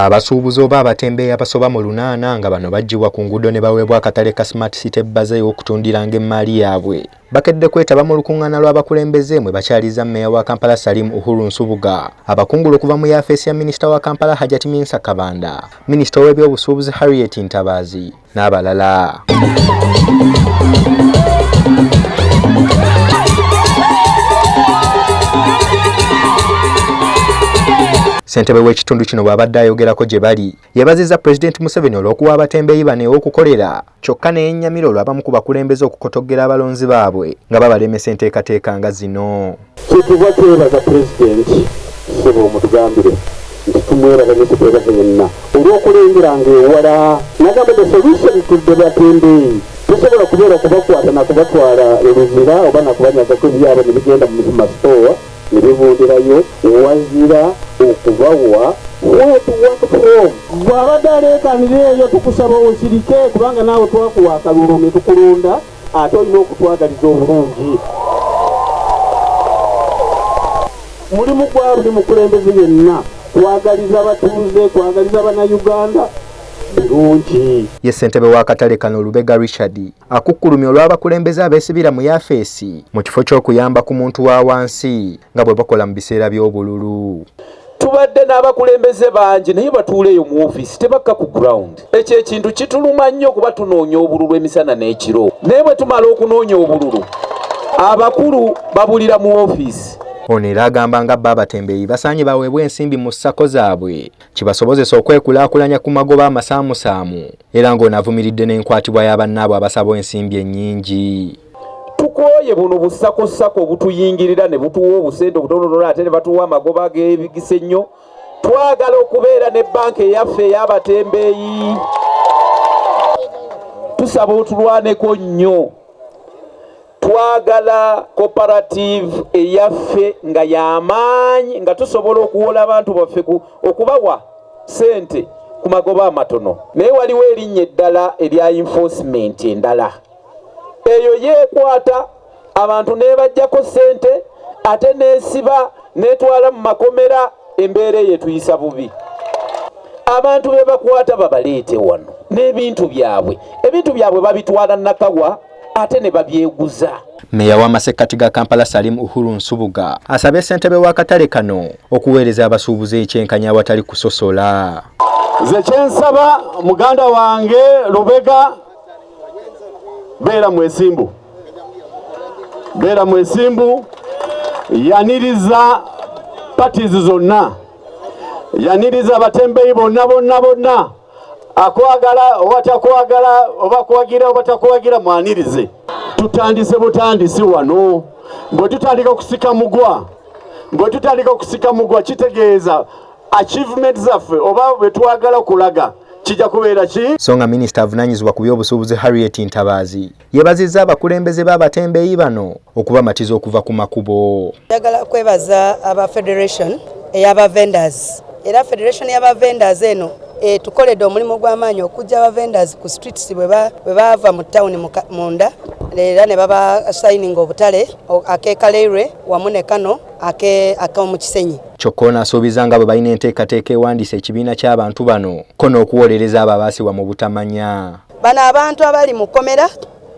Abasuubuzi oba abatembeeyi abasoba mu lunaana nga bano baggyibwa ku nguudo ne baweebwa akatale ka Smart City Bazaar ew'okutundiranga emmaali yaabwe bakedde kwetaba mu lukung'ana lw'abakulembeze mwe bakyaliza mmeeya wa Kampala Salim Uhuru Nsubuga, abakungula okuva mu yaafeesi ya minisita wa Kampala Hajati Minsa Kabanda, minisita ow'ebyobusuubuzi Harriet Ntabaazi, n'abalala. Ssentebe w'ekitundu kino bw'abadde ayogerako gye bali yeebazizza Pulezidenti Museveni olw'okuwa abatembeeyi bano ew'okukolera kyokka ne yennyamira olw'abamu ku bakulembeze okukotoggera abalonzi baabwe nga babalemesa enteekateeka nga zino. Kyetuva twebaza Pulezidenti ssebo mutugambire nti tumwebaza nyo tetwebaza yenna olwokulengera nga ewala nagamba the solution to the batembeeyi tesobola kubeera kubakwata nakubatwala eluzira oba nakubanyagako ebyabwe nebigenda mu muzima store nebivundirayo wazira okubawa what work from bwabadde aleekanira eyo tukusaba osirike kubanga naawe twakuwa akalulu netukulonda ate olina okutwagaliza obulungi mulimu gwa buli mukulembeze yenna kwagaliza batuuze kwagaliza bannayuganda birungi ye ssentebe w'akatale kano lubega richard akukkulumya olw'abakulembeze abeesibira mu yafeesi mu kifo ky'okuyamba ku muntu wa wansi nga bwe bakola mu biseera by'obululu tubadde n'abakulembeze bangi naye batuula eyo mu ofiisi tebakka ku ground ekyo ekintu kituluma nnyo kuba tunoonya obululu emisana n'ekiro naye bwe tumala okunoonya obululu abakulu babulira mu ofiisi ono era agamba nga bba abatembeeyi basaanye baweebwa ensimbi mu ssako zaabwe kibasobozesa okwekulaakulanya ku magoba amasaamusaamu era ng'onavumiridde n'enkwatibwa ya bannaabwe abasaba ensimbi ennyingi tukooye buno busakosako obutuyingirira ne butuwa obusente obutonotono ate ne batuwa amagoba ag'ebigisa ennyo twagala okubeera ne banka eyaffe ey'abatembeeyi tusaba otulwaneko nnyo twagala cooperative eyaffe nga y'amaanyi nga tusobola okuwola abantu baffe okubawa sente ku magoba amatono naye waliwo erinnya eddala erya enforcement endala eyo yeekwata abantu nebajjako ssente ate neesiba netwala mu makomera embeera eyo etuyisa bubi abantu be bakwata babaleete wano n'ebintu byabwe ebintu byabwe babitwala nakawa ate ne babyeguza meeya w'amasekkati ga kampala salim uhuru nsubuga asabye ssentebe w'akatale kano okuweereza abasuubuzi ekyenkanya awatali kusosola nze kyensaba muganda wange lubega beera mwesimbu beera mwesimbu yaniriza parties zonna yaniriza abatembeyi bonna bonna bonna akwagala oba takwagala oba kuwagira oba takuwagira mwanirize tutandise butandisi wano bwe tutandika okusika mugwa bwe tutandika okusika mugwa kitegeeza achievement zaffe oba bwe twagala okulaga kijja kubeera ki so nga minisita avunaanyizibwa ku by'obusuubuzi harriet ntabaazi yeebazizza abakulembeze b'abatembeeyi bano okubamatiza okuva ku makubo njagala kwebaza aba federation eyaba vendors era federation yaba vendors eno etukoledde omulimu gw'amaanyi okujja aba vendors ku streets bwe baava mu tawuni munda era ne baba sayininga obutale akekaleirwe wamu ne kano ak'omu Kisenyi. Kyokka ono asuubiza nga bwe balina enteekateeka ewandiisa ekibiina ky'abantu bano ko n'okuwolereza abo abaasibwa mu butamanya. Bano abantu abali mu kkomera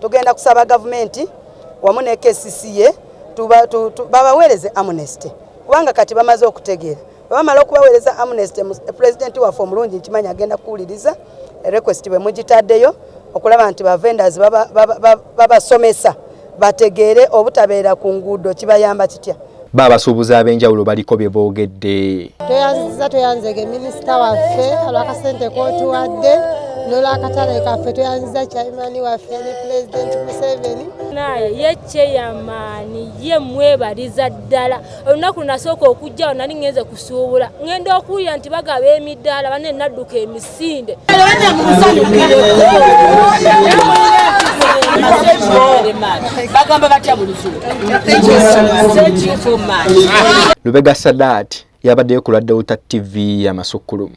tugenda kusaba gavumenti wamu ne KCCA babaweereze amnesty kubanga kati bamaze okutegeera. bamala okubaweereza amnesty pulezidenti waffe omulungi nkimanyi agenda kuwuliriza request bwe mugitaddeyo okulaba nti bavendors babasomesa bategeere obutabeera ku nguudo kibayamba kitya bo abasuubuzi ab'enjawulo baliko bye boogedde tweyanziza tweyanzege minisita waffe olwakasente kotuwadde nolwakatale kaffe tweyanziza chaimani waffe ne pulezidenti museveni naye yekyeyamaani ye mwebaliza ddala olunaku nasooka okujjawo nali ngenze kusuubula ngenda okuwulira nti bagaba emidaala bane nadduka emisinde lubega sadaati yabaddeyo ku lwa delta tv yamasukkulumu